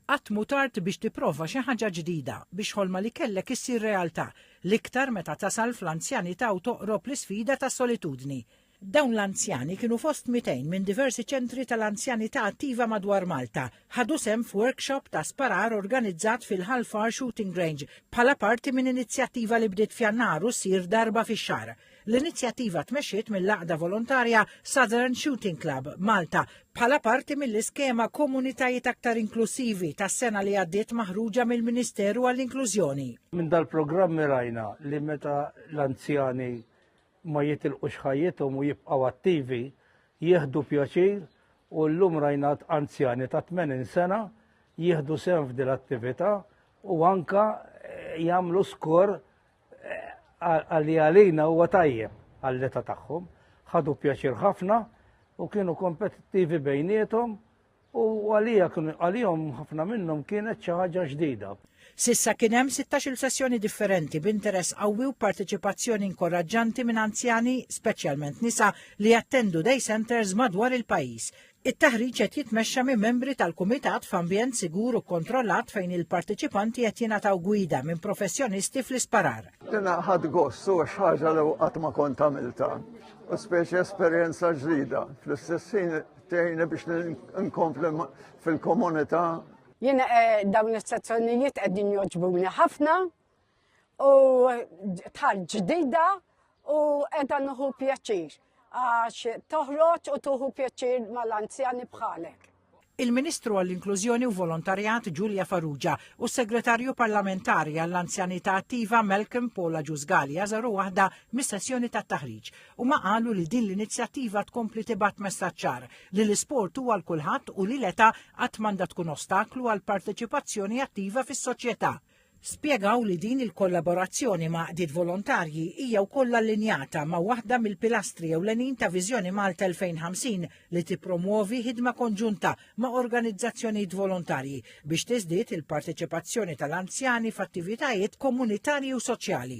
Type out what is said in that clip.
Qatt mhu tard biex tipprova xi ħaġa ġdida, biex ħolma li kellek issir realtà, l-iktar meta tasal fl-anzjanità u toqrob l-isfida tas-solitudni. Dawn l-anzjani kienu fost 200 minn diversi ċentri tal-anzjanità attiva madwar Malta, ħadu sehem f'workshop ta' sparar organizzat fil-Ħal Far Shooting Range bħala parti minn inizjattiva li bdiet f'Jannar u ssir darba fix-xahar. L-inizjattiva tmexxiet mill-għaqda volontarja Southern Shooting Club, Malta, bħala parti mill-iskema Komunitajiet Aktar Inklusivi tas-sena li għaddiet maħruġa mill-Ministeru għall-Inklużjoni. Minn dal-programm rajna li meta l-anzjani ma jitilqux ħajjithom u jibqgħu attivi, jieħdu pjaċir u llum rajna anzjani ta' 80 sena jieħdu sehem f'dil attività u anka eh, jagħmlu skor Għalli għalina huwa tajjeb għall-età tagħhom, ħadu pjaċir ħafna u kienu kompetittivi bejnietom u għalija għalijom ħafna minnhom kienet xi ħaġa ġdida. Sissa kien hemm 16-il sessjoni differenti b'interess qawwi u parteċipazzjoni inkoraġġanti minn anzjani, speċjalment nisa, li jattendu day centers madwar il-pajjiż. It-taħriġ qed jitmexxa minn membri tal-Kumitat f'ambjent sigur u kkontrollat fejn il-parteċipanti qed jingħataw gwida minn professjonisti fl-isparar. Jiena ħadt gost u xi ħaġa li qatt ma kont għamiltha, u speċi esperjenza ġdida. Fl-istess ħin tgħinni biex nkompli fil-komunità. Jiena dawn is-sezzjonijiet qegħdin jogħġbuni ħafna u tal ġdida u edha nuhu pjaċir għax toħroġ u tuħu pjaċir mal-anzjani bħalek. Il-Ministru għall-Inklużjoni u Volontarjat Ġulja Farrugia u s-Segretarju Parlamentari għall-Anzjanità Attiva Malcolm Pola Ġużgali għażaru waħda mis-sessjoni tat-taħriġ u ma qalu li din l-inizjattiva tkompli tibgħat messaċċar li l-isport huwa għal kulħadd u li l-età qatt m'għandha tkun ostaklu għall-parteċipazzjoni attiva fis-soċjetà. Spjegaw li din il-kollaborazzjoni ma' għaqdiet volontarji hija wkoll allinjata ma' waħda mill-pilastri ewlenin ta' Viżjoni Malta 2050 li tippromwovi ħidma konġunta ma' organizzazzjonijiet volontarji biex tiżdied il-parteċipazzjoni tal-anzjani f'attivitajiet komunitarji u soċjali.